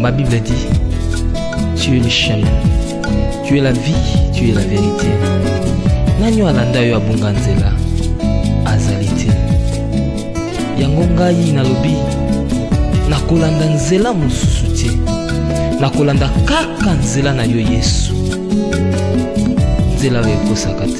Ma Bible dit, tu es le chemin, tu es la vie, tu es la vérité. Nani alanda yo abunga nzela azali te. Yango ngai nalobi nakolanda nzela mosusu te. Nakolanda kaka nzela na yo Yesu. Nzela oyo ekosaka te.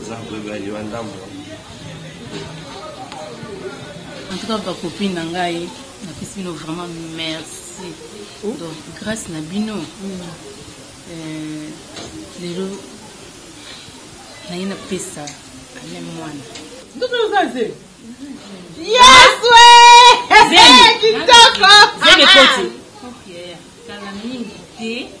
Oza bebe ya liwa ndambo. En tout cas, ba copine na ngai, na pesi bino vraiment merci. Oh. Donc grâce na bino. Mm. Euh, lelo naye napesa ame mwana ndoto oza ze yesu kitoko zemi ekoti kala mingi te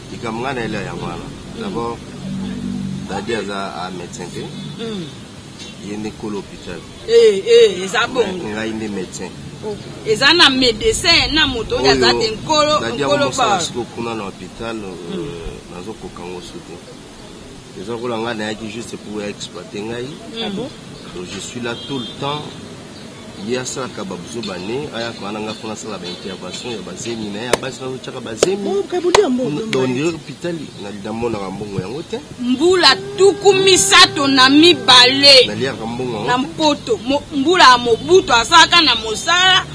Likambo nga na elia yango wana. D'abord Daddy aza a médecin te. Mm. Ye nde kolo hôpital. Eh eh eza bongo. Ngai nde médecin. Oh, eza na médecin na moto oyo aza te nkolo nkolo ba. Daddy akomosala siko kuna na hôpital euh, mm. nazokoka ngo su te. eza kola ngai nayaki juste pour exploiter ngai ah bon? donc je suis là tout le temps ye asalaka babuzoba ne ayaka wana ngai mpo nasala baintervention ya bazemi na ye ya basi nazotyaka bazemidonire hopitali namonaka mbongo yango te mbula tuku misato na mibale naliaka mbongo yango na mpoto mbula ya mobutu asalaka na mosala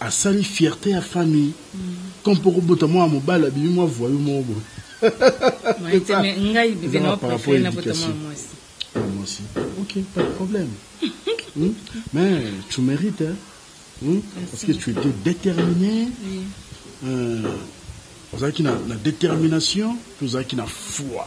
Asali fierte ya famille comme po kobota mwana mobali abimi mwa voyou moko boye eza ba par rapport education ya mwasi ok pas de problème mais tu merite hein parce que tu etais determine ozalaki na determination pe ozalaki na foi.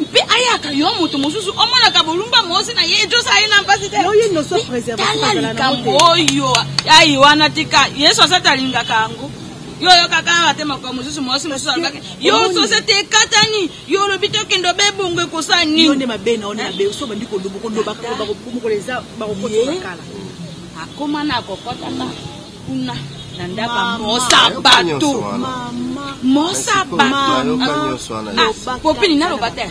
mpe ayaka yo moto mosusu omonaka bolumba mosi na ye ejosa ye na mpasi te tala likambo oyo ai wana tika yesu asati alingaka yango yo oyokaka awa te makambo mosusu mwasi mosusu alobaki yo sosete ekatani yo olobi tokende obe bongo ekosala nini akoma na kokotaka kuna na ndako ya mosa bato mosa batopopini naloba te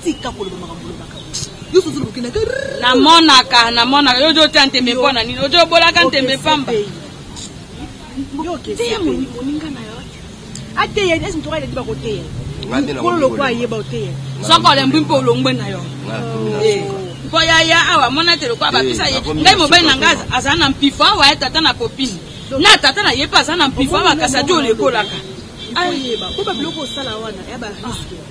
tika koloba makambo olobaka namonaka namonaka yo ojo otya ntembe mpo na nini ojo obolaka ntembe pamba te moninga na yo ateya esi ntoka eleki bakoteya mokolo lokwa ayeba oteya soko olembwi mpe olongwe na yo mpo eh. yaya awa amona ete lokwa bapesa ye ngai mobali na ngai azala na mpifo awa ye tata na popini na tata na ye mpe aza na mpifo awa kasi adi olekolaka ayeba mpo babiloko osala wana ya bariske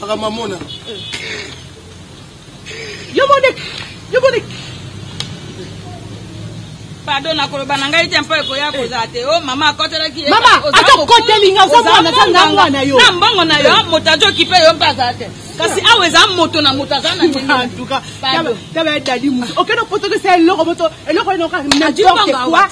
makambo amona yo mode yo mode pardon nakoloba na ngai te mpo ekoya eh. kozala te o oh, mama akotelaki mama ata okoteli nga ozamwana ata nga mwana yo na mbongo na yo moto azo okipe yo mpe azala te kasi eh. awa eza moto na moto aza na ntuka taba edadi mosu okende potokisa eloko moto eloko enoka na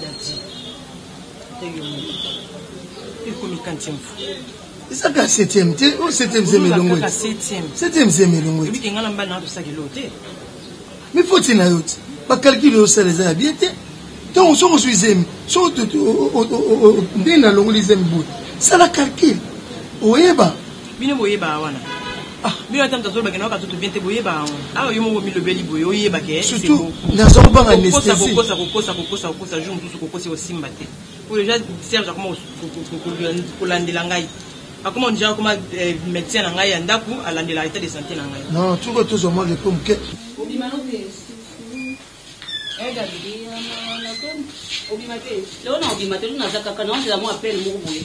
Daddy, ata yo moko. Ekomi kantième fois. Eza kaka septième te, o oh, septième zeme elongo. Kaka septième. Septième zeme elongo. Ebi kengala mbala na tosaki lo te. Mais faut il na yo te. Ba calcul yo sala eza bien te. Donc soki ozwi zemi, soki ndenge nalongoli zemi boye, sala calcul. Oyeba. Bino boyebaka wana Ah, bino ata moto azoloba ke nayoka nzoto bien te boyeba yango awa yo moko omilobeli boye oyeba ke surtout naza kobanga anestesiekokosa kokosa kokosa kokosa jour mosusu kokosi osimba te po deja serge akoma kolandela ngai akoma deja akoma eh, médecin na ngai ya ndako alandela état de santé na ngai non tuko tozwa mwa repo moke obima te leo na obima te leo naza kaka naozela mwa appel moko boye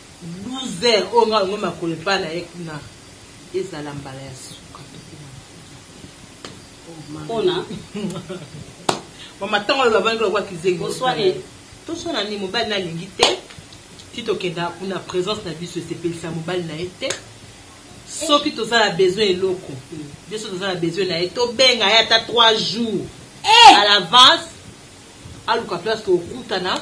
Loser oyo nga olingi makolo epa na ye kuna ezala mbala ya suka tokoma na pona mama tango aloba bani lokola kizengi oswane toswana ni mobali na lingi te ti tokenda kuna presence na biso esepelisa mobali na ye te soki toza na besoin eloko biso toza na besoin na ye tobenga ye ata 3 jours eh! à l'avance aluka place tokutana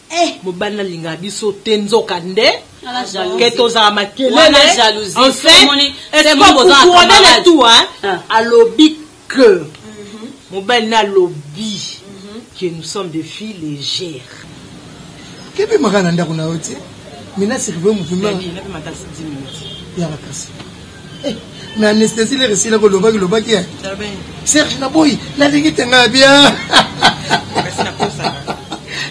Eh mobali na linga biso te nzoka nde ke tozala makelele en fait ekokukudana tu alobi que mhm. mobali na alobi mhm. que nous sommes des filles légères kebe maka na ndako na yo te mina sirve muvima ya makasi Eh, mais anesthésie lere esila kolobaki lobaki ya serge na boyi nalingi tenga bia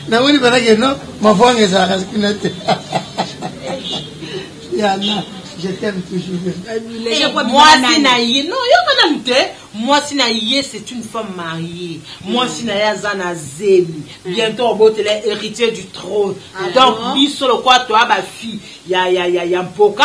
namoni balaki no mavwanga ezalaka kuna te yana je t'aime toujours mwasi na ye non yoka nanu te mwasi na ye c'est une femme mariée mwasi na ye aza na zemi bientôt obotela héritier du trône ah, donc biso lokola toya bafille ya mpoka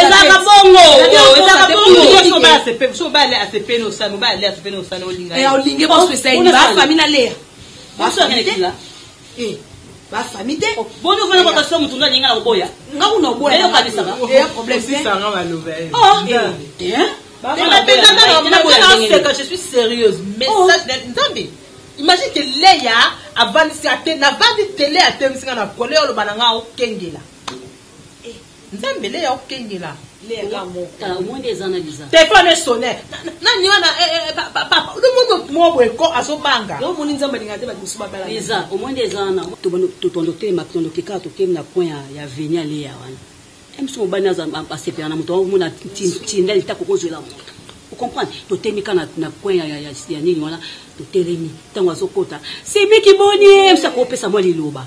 ezalaka bongo imagine ke leya avandisi ate navandi te leya atemisi nga na pole oloba na nga okengela Eh, nzambe leya okengela leya ka moko ah, omoni eza na liza telefone esone nani wana eh, eh, papa lomono mwa boye ko azobanga yo omoni nzambe alinga te bato mosusu babala liza omoni eza wana tobando telema tondo kekaka tokemi na point ya veni ya leya wana biso mobali asepela na moto yango omona ntinda lita kokozwela moto ocomprendre totemi ka na point ya nini wana totelemi ntango azokota semeki boni ye msa kopesa mwa liloba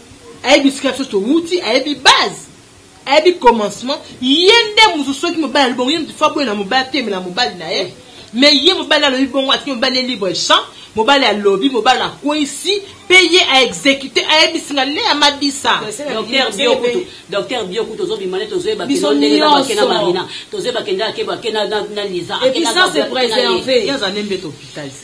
ayebi esika biso towuti ayebi base ayebi commencement ye nde moto soki mobali alobi bongo ye moto fa boye na mobali atemela mobali na ye mais ye mobali alobi bongo atiki mobali ye libre champ mobali alobi mobali akwesi mpe ye aexekute ayebisi nga lea mabisa docteur biokutu ozobima nde tozoyeba biso ndenge babake na marina tozoyeba kendake bake na liza episance preserve mbe topital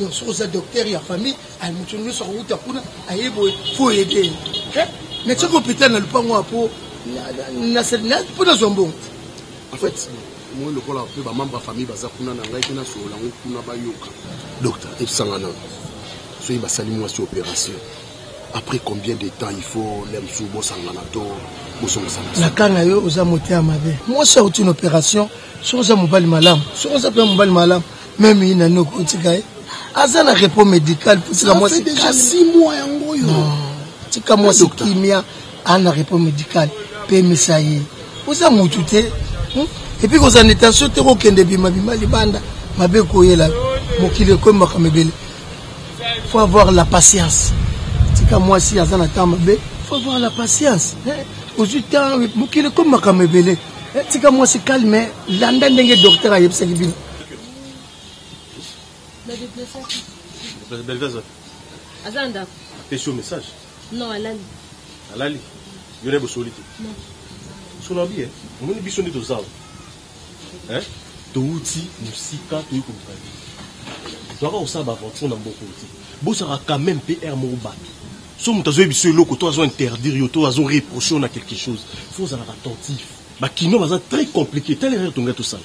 donc soki oza docteur ya famille aye moto nyonso akowuta kuna aye boye fo ede ye mais soki hôpital na lopango ya po mpo nazwa mbongo en fait moi lokola mpe bamembre ya famille baza kuna na ngai mpe nasolola yango kuna bayoka docteur ebisanga nano soki basali mwasi opération après combien de temps il faut le mosusu bosangana to bosongisana nakanga yo oza moteya mabe mwasi auti na opération soki oza mobali malamu soki oza mpe mobali malamu meme ye nani okotika ye aza na repos médical potika mwasi tika mwasi kimia aza na repos médical pemisa ye oza motu te hmm? epuis kozala na intention te kokende bimabima libanda mabe koyela mokili ekomi makambo ebele faut avoir la patience tika mwasi aza na temps mabe faut avoir la patience eh? ozwi temps mokili ekomi makambo ebele eh, tika mwasi calme landa ndenge docteur ayebisaki bino Belvez wapi? Aza na ndako. Apesi yo message? Non, alali. Alali? Yo na ye bosoli te? Non. Solo abi eh? Omoni biso nde toza awa. Eh? Towuti mosika toyi koluka ye. Toyaka kosala ba aventure na mboko te. Bosaka quand même mpe heure moko bato. So moto azoyebi biso eloko to azo interdire yo to azo reproche yo na quelque chose. Faut ozalaka attentif. Ba kinois baza très compliqué. Tala erreur tongai tosala.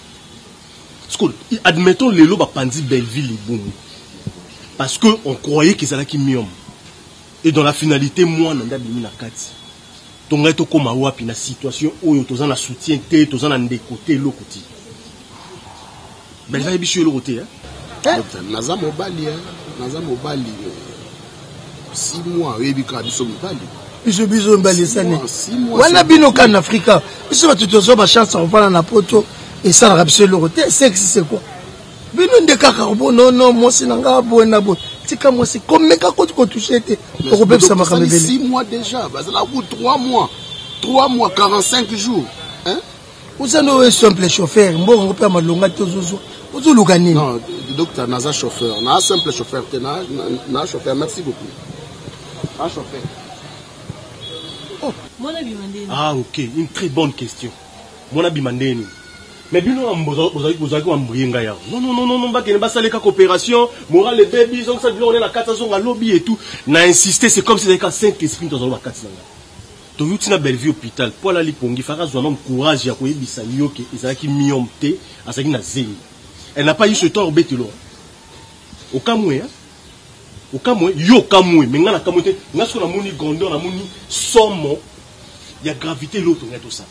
sikoyo admettons lelo bapanzi belleville libumu parce que on croyait qu'ezalaki miom et dans la finalité mwana nde abimi na kati to ngai tokóma wapi na situation oyo toza na soutien te toza na ndeko te eloko ti belleville ayebi biso eloko te eh? naza mobali eh? naza mobali eh? biso biso mbalisani wana bino ka na afrika biso bato tozwa bachance ya kovanda na poto esalaka biso eloko te sexe c'est quoi bino nde kaka bonono mwasi na ngai boye na boye tika mwasi komeka koti kotushe te okobebisa makambo ebele 3 mois 3 mois 45 jours hein? oza nde oyo simple chauffeur mbongo yango mpe ya malonga te ozozwa ozoluka nini non docteur naza chauffeur na simple chauffeur te na, na, na chauffeur merci beaucoup na chauffeur oh. ah ok une très bonne question mwana bima nde nini mais bino bozalaki bambrie ngai awa nonnnnn bakende basala kaka opération moral ebebi ezongisa biloko nde na kati azonga lobi etout na insiste c'est comme si ezalaki ka saint esprit nto azaloba kati na ngai Toyuti na Bellevue hopital po alali pongi, fallaki azua nanu courage ya koyebisa yo ke ezalaki myome te, azalaki na zemi. Elle n'a pas eu ce tort betelo hein. Okamue hein. Okamue, yo okamue mais nga na kamue te, nga sikoyo namoni grandeur, namoni somo ya gravite eloko tolingaki tosala.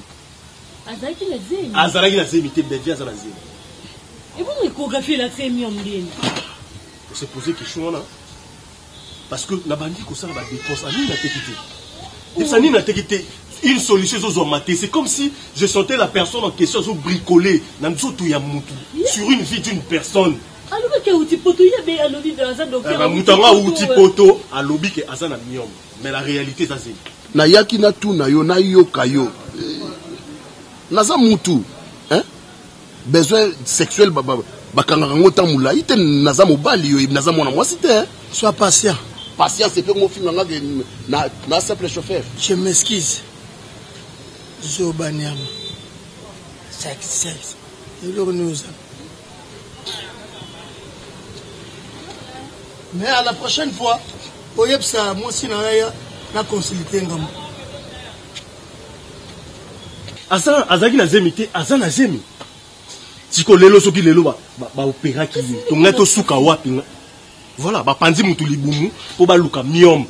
Azalaki na zemi? Azalaki na zemi te, Bellevue aza na zemi. Ebongo echographie elakisa ye myome ndeni? O se poser question wana? parce que na bandi kosala ba dépenses ani na teki te epesa nini na teki te une solution ezozwama te c'est comme si je sentais la personne en question azo bricoler na nzoto ya mutu sur une vie d'une personne alobaki auti poto ye be alobi be aza docteur moto yango auti poto alobi ke aza na miome mais la réalité eza zeli nayaki natuna yo nayoka yo naza mutu besoin sexuel bakangaka ngo temps mulayi te naza mobali yo naza mwana mwasi te sois patient patience epe mofinga nga ke na, na simple chauffeur je m'excuse zoba nyama sacrifice eloko nini oza mais à la prochaine fois oyebisa mwasi na yaya na consulte ngambo Asa azalaki na zemi te, aza na zemi. Siko lelo soki lelo ba, ba, ba operaki ye, tonga to suka wapi nga. Voilà, ba panzi mutu libumu po ba luka miom.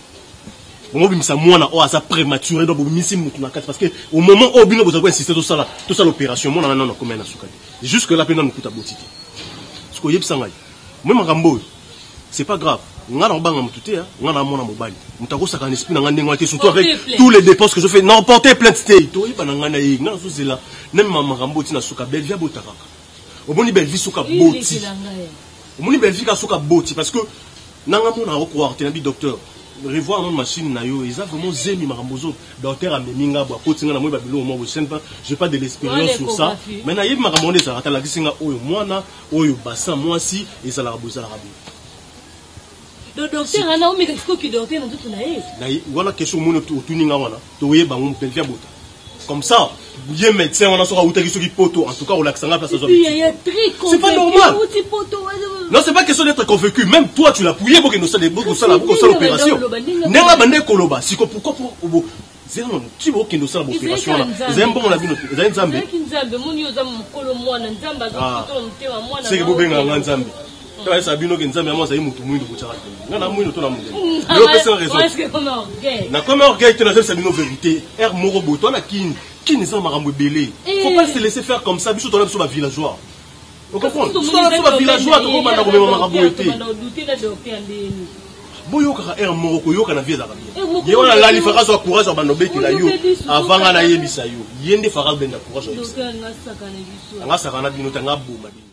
Bongo bimisa mwana o aza prématuré donc bimisi mutu na kati parce que au moment au bino boza ko insister to sala to sala opération mwana na nana komela na suka. Jusque là pe nanu kuta botite. Siko yebisa ngai. Moi makambo C'est pas grave. Nga na banga mutu te, nga na mona mobali. Mutu akosaka na esprit na nga ndenge wana te, surtout avec tous les dépenses que je fais. Non, porter plainte te. To yeba na nga na ye, nga nazo zela na ma makambo ti na suka Bellevue abotaka. Omoni Bellevue suka boti. Omoni Bellevue ka suka boti parce que nanga mona ko croire te na bi docteur. Revoir mon machine na yo, eza vraiment zemi makambo zo. Docteur amemi nga bo akoti nga na moi ba biloko moko, je ne pas, j'ai pas de l'expérience sur ça. Mais na yebi makambo wana ezalaka, ta lakisi nga oyo mwana Oyo bassin mwasi ezalaka bo ezalaka bo. Do docteur ana omeka siko ki docteur na nzoto na ye. Na wana question omoni otuni nga wana toyeba ngo belvi abota. Comme ça ye médecin wana soki awutaki soki poto en tout cas olakisa nga place azwa. C'est pas normal. Non, c'est pas question d'être convaincu. Même toi, tu l'as pouillé pour que nous soyons pour que nous soyons l'opération. N'est-ce pas, Koloba? Si, pourquoi pour, Zela na mutu bo kende osala operation wana. Ezali mbongo na bino te. Ezali Nzambe. Ezali Nzambe. Moni yo za mukolo mwana Nzambe azo ah. kuto mutema mwana. Seke bo benga nga Nzambe. Tala hmm. esa bino ke Nzambe yango azali mutu muindu kotya kati. Nga na muindu to na mutu. Hmm. Lelo pesa na raison. Na comme orgueil te na zela bino verite. Er moko boto na kin. Kin eza makambo ebele. Eh. Faut pas se laisser faire comme ça. Biso tola biso ba villageois. boyokaka heure moko koyoka na vie ezalaka bien eh, ye wana lali faka azwa courage ya banda obetela yo avant nga nayebisa yo ye nde faka benda courage anga sakana bino te anga boma bino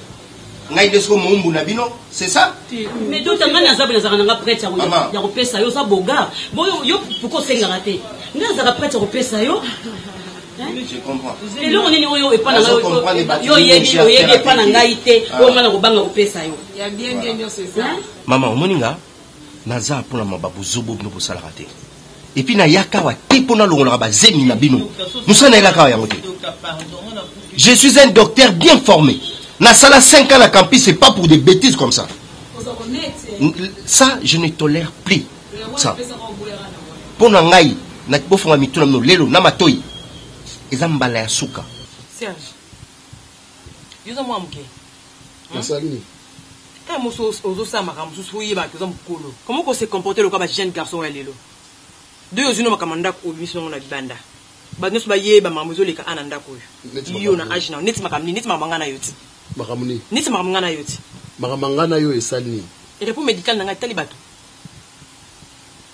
ngai nde siko moumbu na bino c'est ça mais dota ngai naza boye nazalaka nanga prete ya kopesa yo oza bogar boyo yo pourkoi osengaka te ngai nazalaka prete ya kopesa yo eloko nini oyo epa na ngai yo oyebi oyebi epa na ngai te ah. oyo ngai nakobanga kopesa yo mama omoni nga naza mpona mababuzobo bino bosalaka te et puis na yaka wa te pona longolaka ba zemi na bino musala na elaka wa yango te je suis un docteur bien formé na sala 5 ans na campus c'est pas pour des bêtises comme ça ça je ne tolère plus ça pona ngai na bofonga mitu na bino lelo na matoyi eza mbala ya suka Serge. Yo oza mwana muke. Nasali nini? Kaka moso ozo sala makambo mosusu fo oyeba ke oza mukolo. Comment ko se comporter lokola ba jeunes garçons ya lelo? De yo ozui no makambo ya ndaku obimisi no yango na libanda. Batu nionso ba yeba makambo ezo leka awa na ndaku oyo. Yo na age na yo neti makambo nini? Neti makambo ya nga na yo ti. Makambo nini? Neti makambo nga na yo ti. Makambo ya nga na yo esali nini? Repos medical na nga etali batu?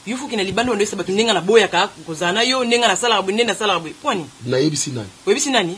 Yo fo okende libanda obanda oyebisa batu nde nga na boyaka kozala na yo, nde nga na salaka boye, nde na salaka boye. Pona nini? Na yebisi nani? Oyebisi nani?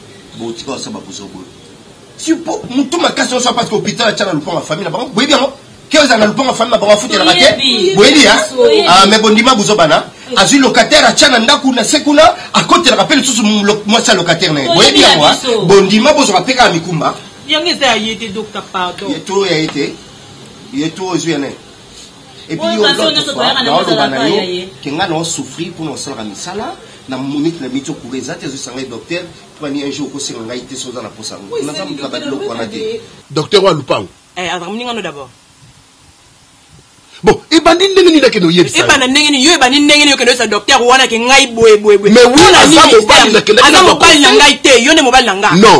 Bo tika osa ba buzo boye. Si po mutu makasi osa parce que hôpital atia na lupango ya famille na bango. Boyebi yango? Keo za na lupango ya famille na bango afutela ba te. Boyebi ya? Ah mais bondima buzo bana. Azui locataire atia na ndaku na se kuna akotelaka pe lisusu mwasi ya locataire na ye. Boyebi yango? Ah? Bondima bozo ka pe kaka mikumba. Yango eza ya ye te docteur pardon. Ye to ya ye te. Ye to ozui ya nani? epuis yo lote fwa naoloba na yo ke nga nao souffrir mpona osalaka misala na monite na biso kura eza te ezoyisa ngai docteur twani un jour okosenga ngai te soki oza na mposa yango naza moto na babiloko wana te docteur wa lupango eh, azalaka moninga no d'abord bon ebandi ndenge nini akende oyebisa ebanda ndenge nini yo ebandi ndenge nini okende oyebisa docteur wana ke ngai boye boye boye mais oui aza mobali nakendaki aza mobali na ngai te yo nde mobali na ngai non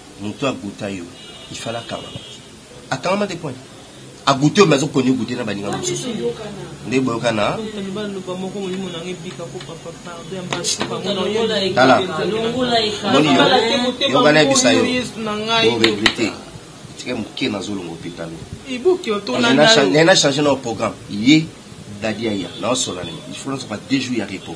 Mutu a gouta yo il fallait akangama akangama te point a goute yo mais azo koni goute na baninga mosusu nde boyoka na tala moni yo yoka nayebisa yo oregrete tika moke nazolonga hôpital nena change na programme ye dadi aya naosola nini il faut nazoka deux jours ya repos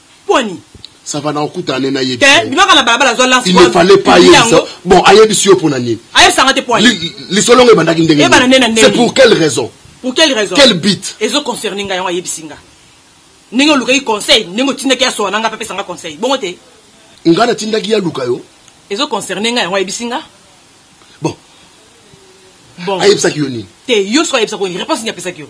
Poni. Ça va na okuta ane na yebi. Te, bimaka na balabala zwa lance. Il ne fallait pas yebisa. Bon, ayebisi yo pona nini? Ayebisa nga te poni. Lisolo ngo ebandaki ndenge. Ebana nena ndenge. C'est pour quelle raison? Pour quelle raison? Quel but? Ezo concerner nga yango ayebisi nga. Ndenge olukaki conseil, ndenge otindaki ya soana nga pe pesa nga conseil. Bongo te. Nga na tindaki ya luka yo. Ezo concerner nga yango ayebisi nga. Bon. Bon. Ayebisaki yo nini? Te, yo soki ayebisaki yo nini? Réponse nini apesaki yo?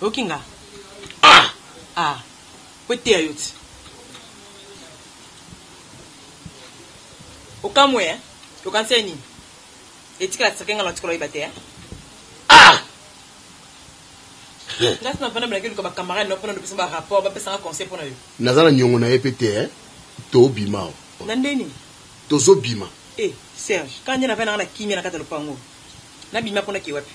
Oyoki nga? Ah! Ah! Po eteya yo ti. Okamue hein? Okanisi ya nini? Etikala secret nga natikala oyeba te hein? Ah! Nga si navanda melaki oluka ba camarade na yo pona lopesa ba rapport ba pesa nga conseil pona yo. Naza na niongo na ye pe te hein? To bima awa. Na nde nini? Tozo bima. Eh Serge, kala nde navandi nanga na kimia na kati ya lopango oyo. Na bima po na ke wapi?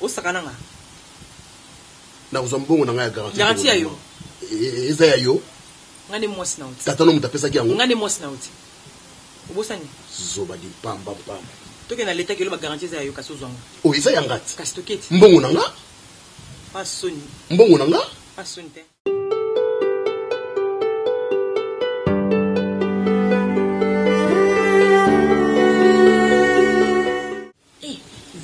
Osaka na nga. Nakozwa mbongo na nga ya garantie. Garantie ya yo. Eza ya yo. Nga nde mwasi na yo te. Tata no moto apesaki yango. Nga nde mwasi na yo te. Obosani? Zoba di mpamba mpamba. Tokende na leta kelo ba garantie eza ya yo kasi ozwa yango. Oyo eza ya nga te. Kasi toketi. Mbongo na nga. Pa soni. Mbongo na nga. Pa soni te.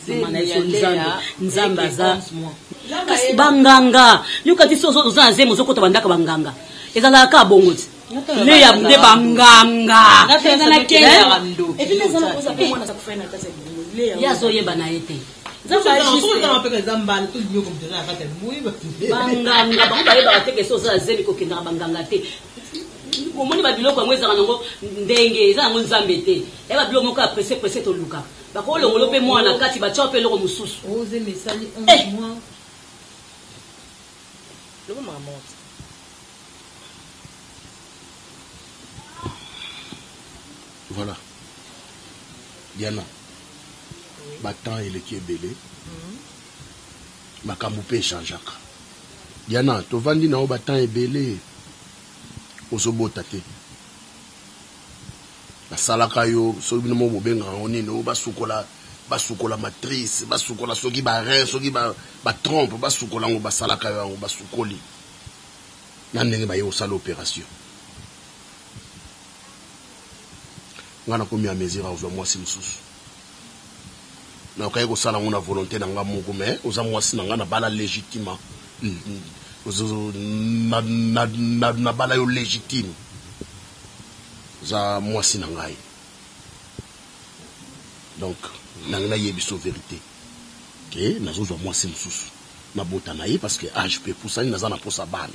Zemi ya Lea leke 11 mois. Kasi ba nganga yoka ti soki oza na zemi ozo kota ba ndako ya ba nganga ezalaka kaka bongo ti Lea nde ba nganga ye azo yeba na ye te banganga bango bayebaka te ke soki oza na zemi kokendaka banganga te Omoni ba biloko yango ezalaka nango ndenge eza nango nzambe te eya ba biloko moko ya presse presse tolukaka bako longola yo pe mwana na kati batia yo pe eloko mosusu eh! Loba makambo yango te. Voilà. Diana. Oui. Ba temps eleki ebele. Mm -hmm. Makambo pe echangeaka. Diana tovandi na yo ba temps ebele ozo bota te ba salaka yo soki bino moko bobengaka ngo nini oyo basukola basukola matrice basukola soki ba rein soki ba, ba trompe basukola ngo basalaka yo yango basukoli na ndenge baye kosala operation nga nakomi ya mesure akozwa mwasi mosusu Na yoka ye ko sala ngo na volonte na nga moko mais oza mwasi na nga na bala legitima na bala yo legitime oza mwasi na ngai donc na ngai na yebiso verite ke na zozwa mwasi mosusu na bota na ye parce que age pe pusani na za na posa bana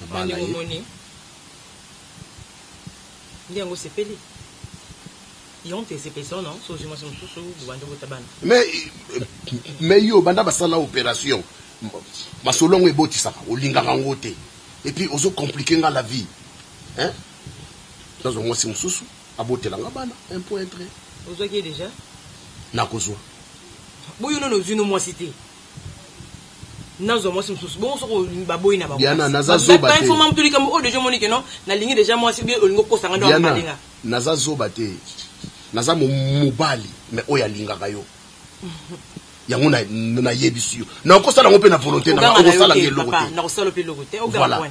na bana ye. Bandeko moni nde yango osepeli? Yonte esepelisao no soki ozui mwasi mosusu bobandi obota bana. Mais mais yo banda basala operation masolo yango ebotisaka olingaka yango te et puis ozo complique nga la vie hein nazwa mwasi mosusu abotela nga bana un point tres. Ozwaki ye dejà? Nakozwa. Boyono no ozui no mwasi te. nazwa mwasi mosusu bongo soki olingi baboyi na Diana naza zoba te fo mamu tolika o deja omoni keno nalingi deja mwasi bie olingi okosa nga ndo alinga naza zoba te naza mobali me oyo alingaka yo yango nayebisi yo nakosala yango mpe na volonté na nga okosala nga eloko te nakosala mpe eloko te voilà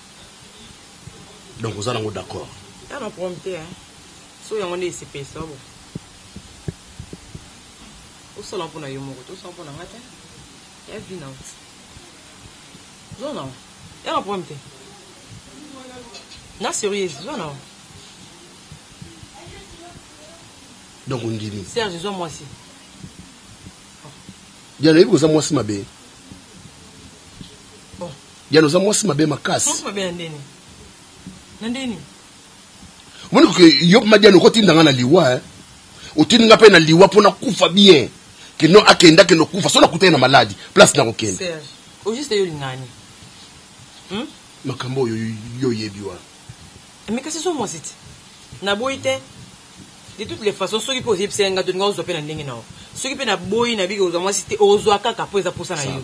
donc oza nango d'accord ya na prom te hein so yango nde esepelisa bo osala mpo na yo moko te osala mpo na nga te ya vi na zo na ya na prom te na serieuse zo na donc ondimi serge zwa mwasi ya nayebi koza mwasi mabe Diane oza mwasi mabe makasi. Mwasi mabe na ndeni. Na ndeni. Omoni que yo ma Diane okotinda nga na liwa hein. Otindi nga pe na liwa pona kufa bien. Que non akenda que no kufa so na kutani na malade place na kokenda. Serge, au juste yo lingani. Hmm? Makambo yo yo yebi wa. Mais kasi so mwasi ti. Na boyi te. De toutes les façons soki pe ozebisa nga to nga ozwa pe na ndenge na yo. Soki pe na boyi na biki ozwa mwasi te ozwa kaka po eza posa na yo.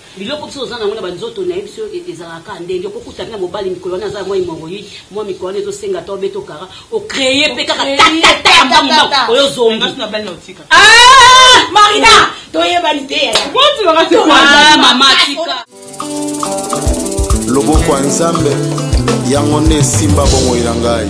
Biloko biso toza na yango na ba nzoto naye biso ezalaka kaka ndenge oko kuta pe na mobali mikolo wana aza mwa hemorroïde mwa mikolo wana ezo senga ata obeta okara o cree pe kaka ta ta ta ya mbangu mbangu oyo zombi ah marina toyebani te ah mama tika loboko ya nzambe yango nde esimba bomoi na ngai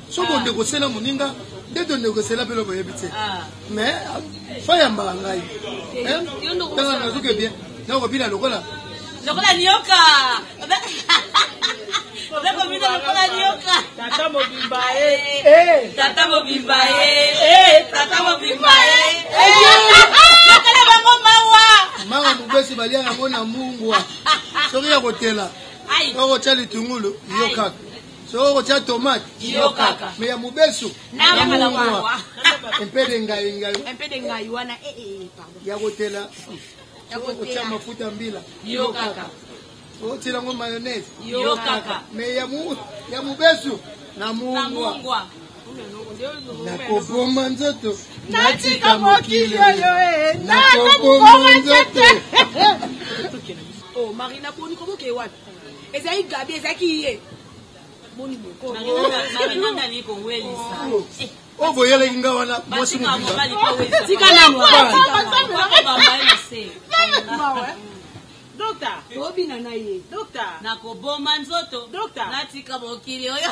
so bondeko sela moninga nde tondeko sela mpe eloko oyebi te mais fayambaka ngai tanga nazoke bien nakobina lokola lokola nioka obekobina lokola nioka tata mobimba e tata mobimba e tata mobimba e nakala bango mawa manga mobesi balia yango na mungwa soki ya kotela okotya litungulu yo kaka soki okotya tomate iyo kaka me ya mobesu namuwa empede ngai ngai empede ngai wana eh, eh, eh, ya kotela soki okotya mafuta mbila iyo kaka otila ngo mayonnaise iyo kaka me ya mobesu na mungwa nakoboma nzoto natika mokili oyo nakoboma nzoto oh, marina boni koboke wapi ezali gabi ezalaki ye boni bokomarinandali kowelisa oyo boyelaki nga wana mwasi mobitika naobina na ye nakoboma nzoto natika mokili oyo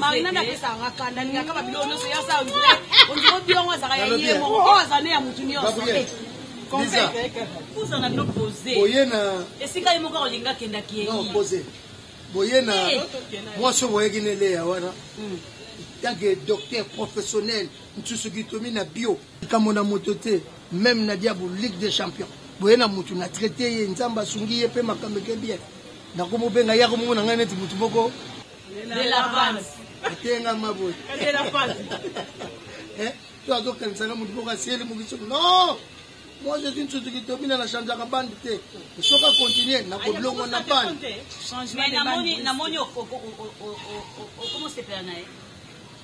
marinade apesaka nga kanda alingaka ba biloko nyonso yasa vrai ondiro biongo azalaka ya ye moko oyo aza ne ya motu nyonso kozala bino pose esika ye moko akolinga kendaki ye boye na mwasi oyo boyaki ne leya wana ntanke hmm. docteur professionnel mosusu kitomi na bio likambo na moto te meme na diabo ligue des champions boye na motu na traite ye nzambe asungi ye mpe makambo eke bien Na kombo pe nga yako mona nga neti mutu moko. De la panse. Atenga ma boye. De la panse. Eh, to azo kanisa nga mutu moko asieli mukiso. Non! Moi je suis une Suzuki Tomina na changeaka bande te. Soka continuer na koblongo na bande. Mais na moni na moni okomo sepela na ye.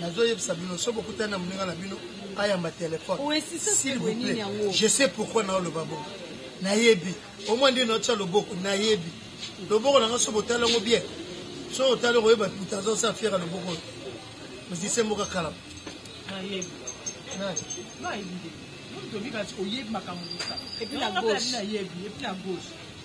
nazo yebisa bino so bokutani na moninga na bino ayamba telefone s'il vous plaît je sais pourquoi naoloba bongo nayebi omwa nde naotya loboko nayebi loboko na nga so botali yango bien so otali okoyeba puta azosa fiere ya loboko oyo mizise moko akalama oyebi makambo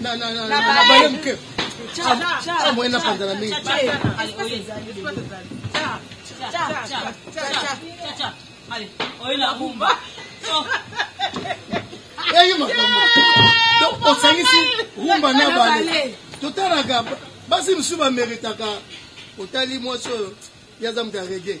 na na na na na baye muke ah moyen na panzana mingi eyi makambo donc osangisi rumba na bale totalaka basi mosusu bameritaka otali mwasi oyo yaza moto ya rege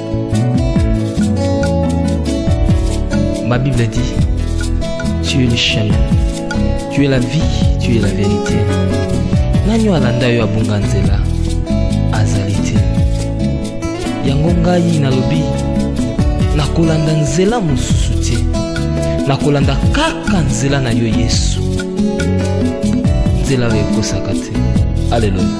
Ma Bible dit, tu es le chemin, tu es la vie, tu es la vérité. Nani oyo alanda yo abunga nzela azali te. Yango ngai nalobi nakolanda nzela mosusu te, nakolanda kaka nzela na yo Yesu, nzela oyo ekosaka te. Aleluya.